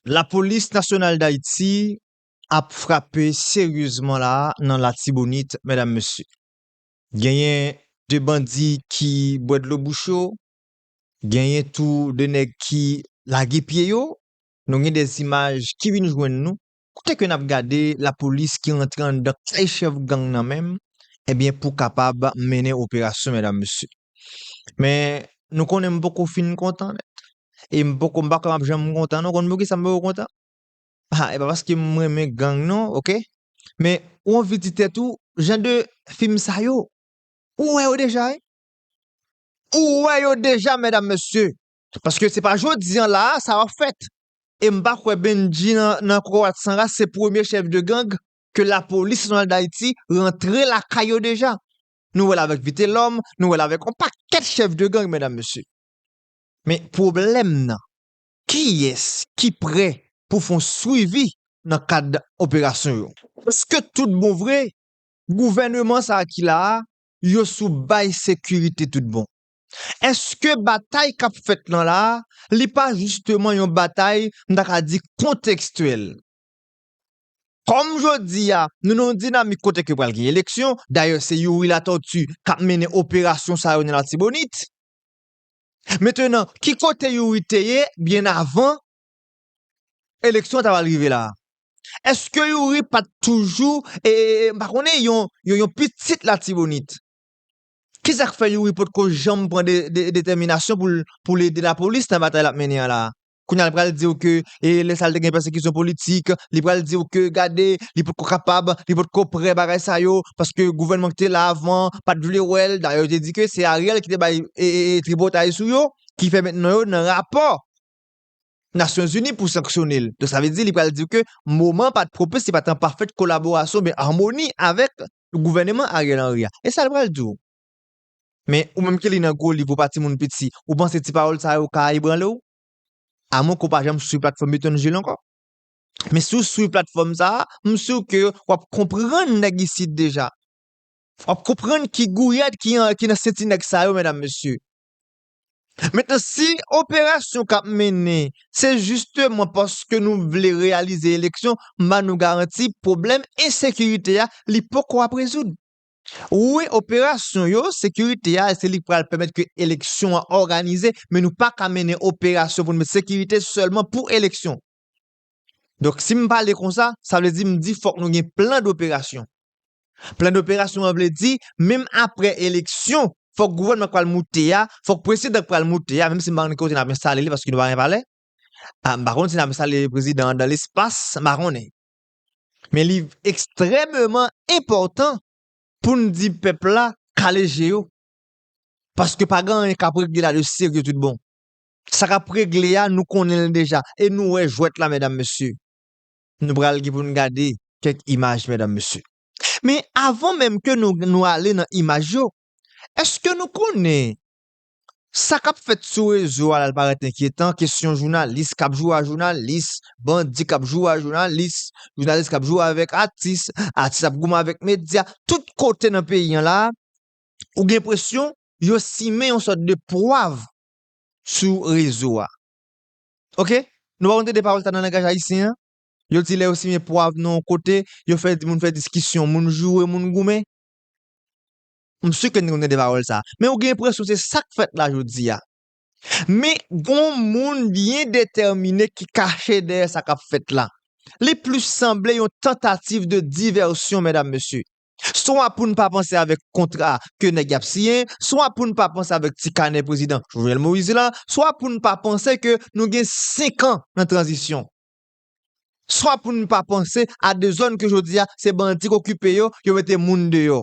Lapolis nasyonal Dayiti ap frape seryezman la a nan Latibonit medam mesye. Genyen 2 bandi ki bwè dlo bouch yo, genyen tou 2 nèg ki lage pye yo, nou gen 2 imaj ki vin jwenn nou, kote ke nap gade lapolis ki rantre anndan kay chèf gang nan menm, ebyen pou kapab mennen operasyon medam mesye. Men, nou konnen m poko fin kontan nèt. E m poko, m pa kwè m ap janm kontan non. Konn poukisa m poko kontan? Ha, e pa paske m renmen gang non, oke. Men, ou anvi di tèt ou, jan de fim sa yo, ou wè yo deja e? Ou wè yo deja, medam mesye! Paske se pa jodi an la a sa ap fèt. E m pa kwè Bendji nan Kokorat San Ras se premye chèf de gang ke Lapolis Nasyonal Dayiti rantre lakay yo deja. Nou wè l avèk Vitelòm, nou wè l avèk yon pakèt chèf de gang, medam mesye. Men pwoblèm nan, kiyès ki prè pou fè yon swivi nan kad operasyon yo? Èske tout bon vre, gouvèneman sa a ki la a, yo sou bay sekirite tout bon? Èske batay k ap fèt lan la a, li pa jisteman yon batay m ta ka di kontekstyèl? Kòm jodi a, nou nan yon dinamik kote ke pral gen eleksyon, dayè se Youri Latortue k ap mennen operasyon sa yo nan Latibonit. Mentenan, ki kote Youri te ye byen avan eleksyon an ta pral rive la a? Eske Youri pa t toujou, e, m pa konnen, yon, yon pitit Latibonit? Ki sa k fè Youri potko janm pran detèminasyon pou l, pou l ede lapolis nan batay l ap mennen an la a? Kounye a li pral di ou ke e lè sa li te gen pèsekisyon politik, li pral di ou ke gade li potko kapab, li potko prè bagay sa yo paske gouvènman ki te la avan an pat vle wè l, dayè yo te di ke se Ariel ki te bay tripotay sou yo ki fè mentnan yo nan rapò Nasyon Zini pou sanksyone l. Donk sa vle di li pral di ou ke moman an pat pwopis, li pat an pafèt kolaborasyon oubyen amoni avèk gouvèneman Ariel Henry a. E sa li pral di ou? Men, ou menm ki li nan gwo liv ou pa timoun piti, ou panse ti pawòl sa yo ka ebranle w? Amwenke w pa janm swiv platfòm Etènjil ankò. Men si w swiv platfòm sa a, m si w ke w ap konprann nèg isit deja. W ap konprann ki gouyad ki nan senti nèg sa yo, medam mesye. Mentnan, si operasyon k ap mennen se jisteman paske nou vle reyalize eleksyon, m ba nou garanti pwoblèm ensekirite a li poko ap rezoud. Wi operasyon yo, sekirite a se li k pral pèmèt ke eleksyon an òganize men nou pa ka mennen operasyon pou nou met sekirite sèlman pou eleksyon. Donk si m pale konsa, sa vle di m di fòk nou gen plan doperasyon. Plan doperasyon an vle di menm aprè eleksyon fòk gouvènman k pral moute a, fòk prezidan k pral moute a, menm si m pa konnen ki kote n ap enstale li paske nou pa gen palè, m pa konnen si n ap enstale prezidan an dan lespas, m pa konnen. Men li ekstrèmeman enpòtan pou n di pèp la kale je yo. Paske pa gen anyen k ap regle la de serye tout bon. Sa k ap regle a, nou konnen l deja. E nou wè jwèt la medam mesye. Nou pral gen pou n gade kèk imaj medam mesye. Men avan menm ke nou ale nan imaj yo, èske nou konnen Sa kap fèt sou rezo a la parèt enkyetan, kesyon jounalis kap jwe a jounalis, bandi kap jwe a jounalis, jounalis kap jwe avèk atis, atis ap goumen avèk medya, tout kote nan peyi an la, ou gen enpresyon yo simen yon sòt de pwav sou rezo a. Ok, nou pa konn tande pawòl sa nan langaj ayisyen an? Yo di lè yo simen pwav nan yon kote, yo fè moun fè diskisyon, moun joure, moun goumen. M si ke n konnen de pawòl sa a. Men ou gen enpresyon se sa k fèt la jodi a. Men gon moun byen detèmine ki kache dèyè sa k ap fèt la. Li plis sanble yon tantativ de divèsyon medam mesye. Swa pou n pa panse avèk kontra ke nèg y ap siyen, swa pou n pa panse avèk ti kanè prezidan Jovenel Moïse la, swa pou n pa panse ke nou gen 5 an nan tranzisyon. Swa pou n pa panse a de zòn ke jodi a se bandi k okipe yo, yo mete moun deyò.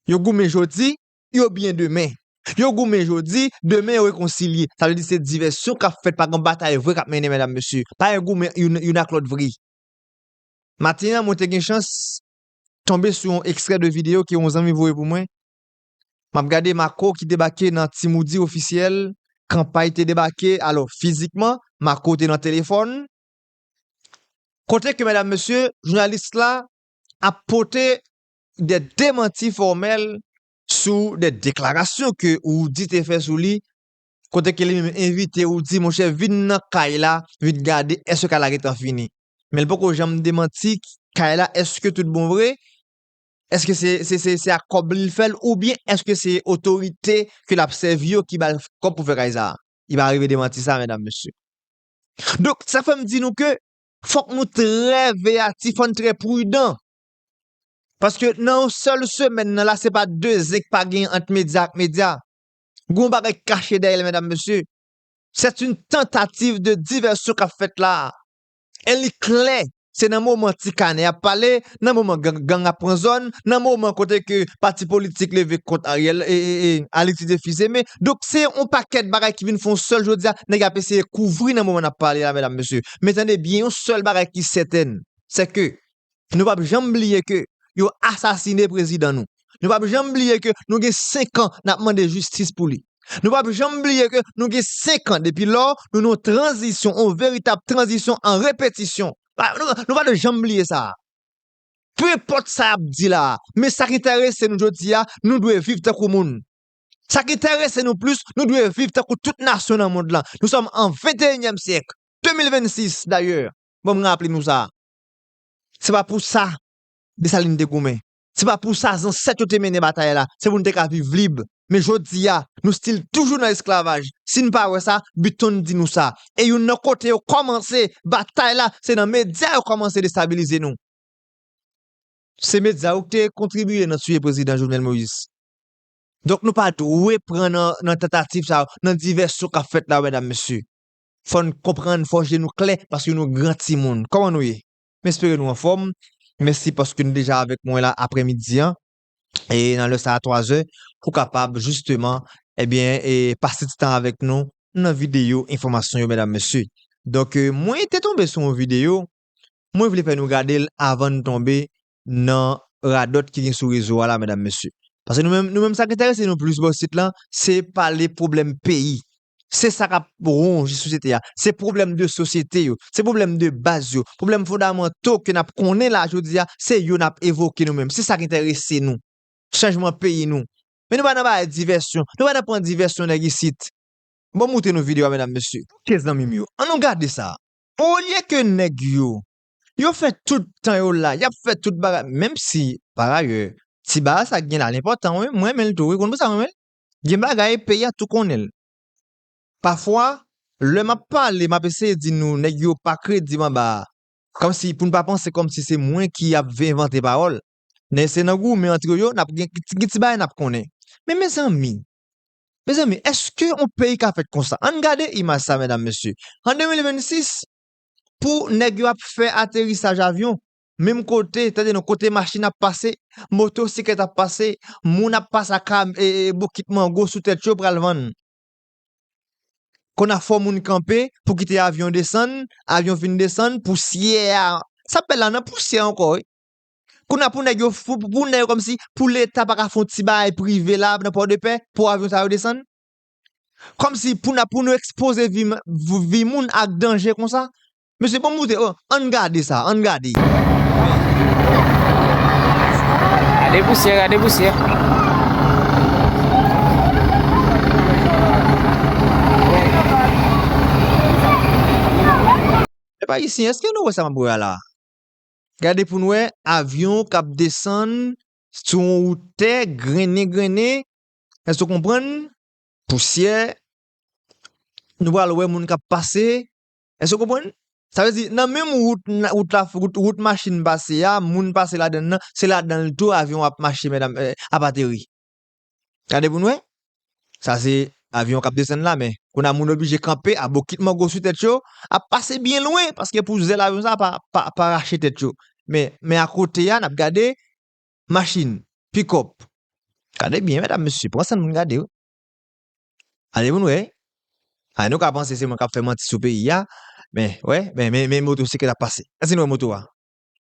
Yo goumen jodi, yo byen demen. Yo goumen jodi, demen yo rekonsilye. Sa vle di se divèsyon k ap fèt, pa gen batay vre k ap mennen medam mesye. Pa gen goumen youn ak lòt vre. Maten an mwen te gen chans tonbe sou yon ekstrè de videyo ke yon zanmi voye pou mwen. M ap gade Marco ki debake nan Ti Moudi Ofisyèl, Kanpay te debake, alò fizikman, Marco te nan telefòn. Kote ke medam mesye, jounalis la ap pote de demanti fòmèl sou de deklarasyon ke Roody te fè sou li, kote ke li menm envite Roody, monchè vin nan kay la, vin gade eske kay la gentan fini. Men li poko janm demanti kay la eske tout bon vre, eske se ak kòb li li fèl oubyen eske se otorite ke lap sèvi yo ki bal kòb pou fè kay sa. Li pa rive demanti sa medam mesye. Donk sa fèm di nou ke Fòk nou trè veyatif, fòn trè prudan. Paske nan yon sèl semèn nan la se pa de zen k pa genyen ant medya ak medya. Gon bagay k kache dèyè l medam mesye. Sèt yn tantativ de divèsyon k ap fèt la a. E li klè se nan moman ti kanè ap pale nan moman gang gang ap pran zòn, nan moman kote ke pati politik leve kont Ariel e e e al itilize Fils-Aimé. Donk se yon pakèt bagay ki vin fè yon sèl jodi a, nèg ap eseye kouvri nan moman n ap pale la medam mesye. Men tande byen yon sèl bagay ki sètèn, se ke nou pap janm bliye ke yo asasine prezidan nou. Nou pap janm bliye ke nou gen 5 an n ap mande jistis pou li. Nou pap janm bliye ke nou gen 5 an depi lò nou nan yon tranzisyon, yon veritab tranzisyon an repetisyon. Nou pa dwe janm bliye sa. Peu enpòt sa y ap di la a, men sa ki enterese nou jodi a, nou dwe viv tankou moun. Sa ki enterese nou plis, nou dwe viv tankou tout nasyon nan mond lan. Nou sòm an venteyenyèm syèk, 2026 dayè, bon m raple nou sa. Se pa pou sa Dessalines te goumen. Se pa pou sa zansèt yo te mennen batay la, se pou n te ka viv lib. Men jodi a, nou stil toujou nan esklavaj. Si n pa wè sa, Button di nou sa. E youn nan kote yo kòmanse batay la, se nan medya yo kòmanse destabilize nou. Se medya yo ki te kontribiye nan tiye Prezidan Jovenel Moïse. Donk nou pa dwe pran nan tantativ sa yo, nan divèsyon k ap fèt la, medam mesye. Fò n konprann, fò je nou klè, paske nou gran timoun. Kòman nou ye? M espere nou anfòm. Mèsi paske nou deja avèk mwen la aprè midi an e nan lè sa a 3 zè pou kapab jisteman ebyen pase ti tan avèk nou nan videyo enfòmasyon yo medam mesye. Donk mwen te tonbe sou yon videyo mwen vle fè nou gade l avan n tonbe nan radòt ki gen sou rezo a la medam mesye. Paske nou menm sa k enterese nou plis bò isit lan se pale pwoblèm peyi Se sa k ap wonje sosyete a. Se pwoblèm de sosyete yo. Se pwoblèm de baz yo. Pwoblèm fondamanto ke n ap konnen la jodi a, se yo n ap evoke nou menm. Se sa k enterese nou. Chanjman peyi nou. Men nou pa nan bay divèsyon. Nou pa nan pran divèsyon nèg isit. Bon m moute nou video a medam mesye. Ok zanmi m yo, an nou gade sa. Olye ke nèg yo, yo fè tout tan yo la, y ap fè tout bagay, menm si, parayè, ti bagay sa gen la l enpòtan wi, m renmen l tou wi, ou konn pou sa m renmen l? Gen bagay peyi a tou konnen l. Pafwa, lè m ap pale, m ap eseye di nou nèg yo pa kredib anba a. Kòmsi pou n pa panse kòmsi se mwen ki ap vin envante pawòl. Nèg se nan goumen antre yo n ap gen gen ti bagay n ap konnen. Men mezanmi! Mezanmi, èske on peyi ka fèt konsa? An n gade imaj sa medam mesye. An 2026, pou nèg yo ap fè aterisaj avyon, Menm kote, tande non, kote machin ap pase, moto siklèt ap pase, moun ap pase ak bokit mango sou tèt yo pral vann. Kona fò moun kanpe pou kite avyon desann, avyon fin desann, pousyè a, sa bèl la nan pousyè ankò wi. Kona pou nèg yo fou, pou nèg yo kòmsi, pou leta pa ka fon ti bagay prive la nan pòdepè pou avyon sa yo desann? Kòmsi pou na pou nou ekspoze vi moun ak danje konsa? Mesye bon moute oh ann gade sa ann gade. Gade pousyè gade pousyè. Pèp ayisyen eske nou wè sa map wè a la. Gade poun wè avyon kap desann sou yon wout tè grennen grennen èske ou konprann pousyè nou pral wè moun kap pase Èske w konprann? Sa vle di, nan menm wout, wout la, wout machin pase a, moun pase ladan l lan, se ladan l tou avyon an ap mache medam, ap ateri. Gade pou n wè. Sa se avyon k ap desann la men, kounye a moun oblije kanpe a bokit mango sou tèt yo, ap pase byen lwen paske pou zèl avyon sa a pa rache tèt yo. Men, men akote a n ap gade machin, pikòp. Gade byen medam mesye, pran san nou n gade wi. Gade pou nou wè. Ay nou ka panse se mwen kap fè manti sou peyi a, men wè, men men men moto siklet ap pase. Èske nou wè moto a?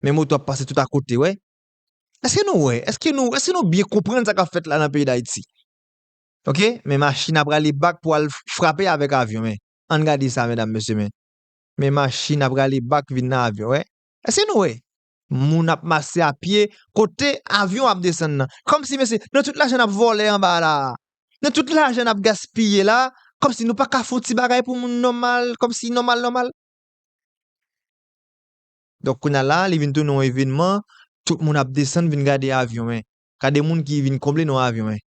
Men moto ap pase tout akote wè. Èske nou wè? Èske nou èske nou byen konprann sa kap fèt la nan peyi Dayiti? Ok, men machin ap rale bak pou al frape avèk avyon men. Ann gade sa medam mesye men. Men machin ap rale bak vin nan avyon wè. Èske nou wè? Moun ap mache a pye kote avyon ap desann nan. Kòmsi mesye, nan tout lajan nap vòlè anba la a, nan tout lajan nap gaspiye la a, kòmsi nou pa ka fon ti bagay pou moun nòmal, kòmsi nòmal nòmal. Donk kounya la a li vin tounen yon evenman, tout moun ap desann vin gade avyon 1. Gade moun ki vin konble nan avyon 1.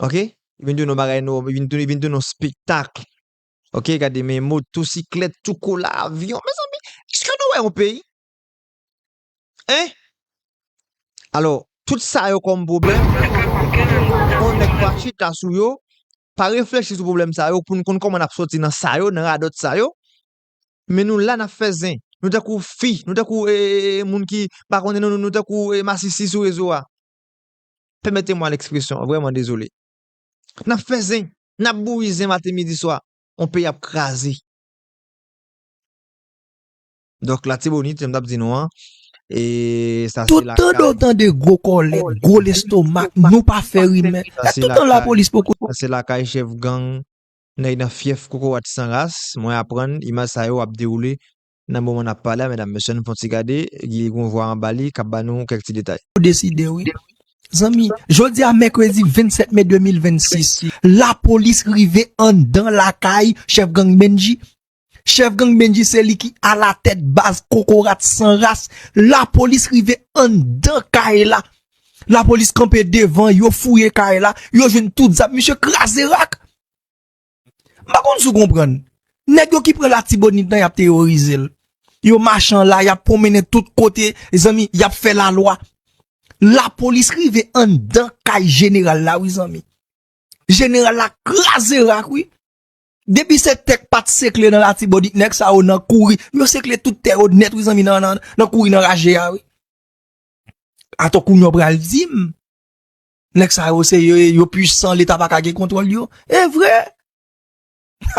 Ok? Li vin tounen yon bagay, li vin tounen yon spektakl. Ok gade men moto siklet tou kola avyon mezanmi eske nou wè yon peyi hein alò tout sa yo kòm pwoblèm fò nèg pa chita sou yo pa reflechi sou pwoblèm sa yo pou nou konn kòman nap sòti nan sa yo nan radòt sa yo men nou la nap fè zen nou tankou fi nou tankou ee moun ki pa konnen nou nou tankou masisi sou rezo a pèmete mwa lèkspresyon vrèman dezole. Nap fè zen, nap bouyi zen maten midi swa, yon peyi ap kraze. Dòk latibonit jan m tap di nou an, e sa se lakay. Toutan nou tande gwo kòlèt, gwo lestomak, nou pa fè rimè, e toutan lapolis poko. Sa se lakay chèf gang, nèg nan fyèf kokorat san ras, mwen aprann imaj sa yo ap dewoule Nan moman nap pale a medam mesye an nou fon ti gade li gon vwa anba li kap ba nou kèk ti detay. Ou deside wi zanmi. Jodi a mèkredi 27 me 2026 lapolis rive anndan lakay chèf gang Bendji. Chèf gang Bendji se li ki alatèt baz kokorat san ras. Lapolis rive anndan kay la. Lapolis kanpe devan yo fouye kay la yo jwenn tout zam misye kraze rak. M pa konn si w konprann. Nèg yo ki pran Latibonit nan y ap teyorize l. Yo mache an la, y ap pwonmennen tout kote, mezanmi, y ap fè lalwa. Lapolis rive anndan kay jeneral la wi zanmi. Jeneral la kraze rak wi. Depi se tè k pa t sekle nan Latibonit, nèg sa yo nan kouri. Yo sekle tout tè yo nèt wi zanmi nan kouri nan raje a wi. Atò kounya w pral di m. Nèg sa yo se yo ye, yo pwisan, leta pa ka gen kontwòl yo. E vre!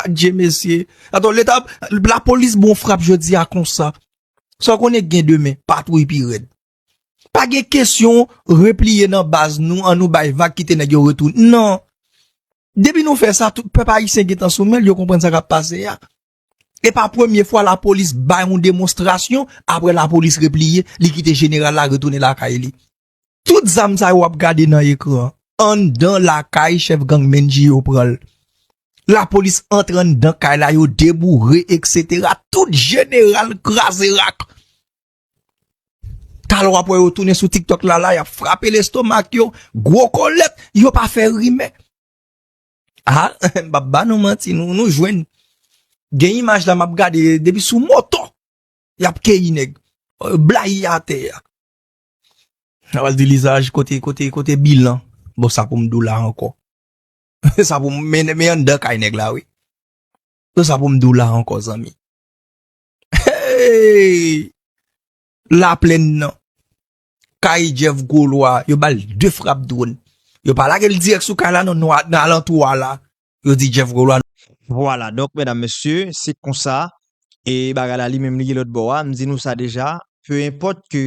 Adje mesye! Atò leta, la polis bon frap jodi a konsa. Sa w konnen k gen demen? Patwouy pi rèd. Pa gen kesyon repliye nan baz nou, an nou bay vag kite nèg yo retou. Non! Depi nou fè sa, tout pèp ayisyen gen tan sou men l, yo konprann sa k ap pase a. E pa premye fwa la polis bay yon demonstrasyon, apre la polis repliye, li kite jeneral la retounen lakay li. Tout zam sa yo wap gade nan ekran anndan lakay chèf gang Mendy yo pran l. Lapolis antre anndan kay la yo deboure etc. Tout jeneral kraze rak. Talè wap wè yo tounen sou tiktok la la yap frape lestomak yo, gwo kolèt, yo pa fè rimè. A m pap ba nou manti nou jwenn. Gen imaj la map gade depi sou moto yap keyi nèg. Blayi atè a. Nap al di lizaj kote kote kote bilan bon sa poum dou la ankò sa poum men men anndan kay nèg la wi bon sa poum dou la ankò zanmi eeyy laplenn nan kay Jeff gwo lwa yo bal de frap dwòn yo pa lagel dirèk sou kay la non nan alantou a la. yo di Jeff Golois. Vwala donk medam mesye se konsa e bagay la li menm li ye lòt bò a, m di nou sa deja pe enpòt ke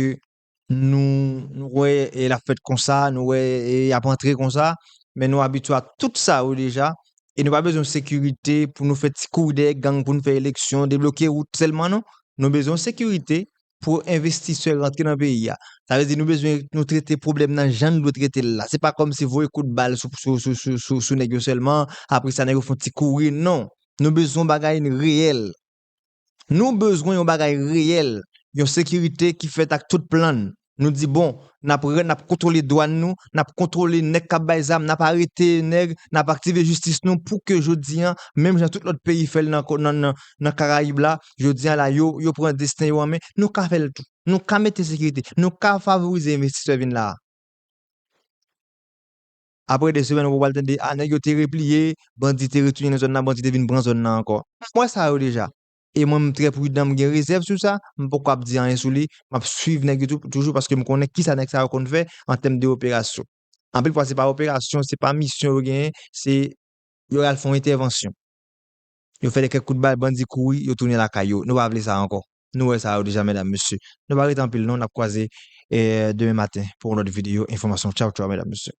nou nou wè e l ap fèt konsa nou wè e y ap antre konsa men nou abitye ak tout sa yo deja e nou pa bezwen sekirite pou nou fè ti kouri dèyè gang pou nou fè eleksyon debloke wout sèlman non nou bezwen sekirite pou envestisè rantre nan peyi a. Sa vle di nou bezwen nou trete pwoblèm nan jan nou dwe trete l la. Se pa kòmsi voye kout bal sou nèg yo sèlman, apre sa nèg yo fè yon ti kouri. Non! Nou bezwen yon bagay reyèl. Nou bezwen yon bagay reyèl, yon sekirite ki fèt ak tout plan n. Nou di bon, n ap n ap kontwole dwàn nou, n ap kontwole nèg k ap bay zam, n ap arete nèg, n ap aktive jistis nou pou ke jodi a, menm jan tout lòt peyi fè l nan Karayib la, Jodi a la, yo, yo pran desten yo an men, nou ka fè l tou. Nou ka mete sekirite, nou ka favorize envestisè vin la a. Apre 2 semèn wou pral tande, a nèg yo te repliye, bandi te retounen nan zòn nan, bandi te vin pran zòn nan ankò. M wè sa yo deja. E mwen m trè pridan, m gen rezèv sou sa, m poko ap di anyen sou li, m ap swiv nèg yo tou, toujou paske m konnen kisa nèg sa yo konn fè an tèm de operasyon. Anpil fwa se pa operasyon, se pa misyon yo genyen, se yo al fon entèvansyon. Yo fè de kèk kout bal bandi kouri yo tounen lakay yo nou pa vle sa ankò. Nou wè sa yo deja medam mesye. Nou pa rete anpil non nap kwaze demen maten pou yon lòt video enfòmasyon tchaw tchaw medam mesye.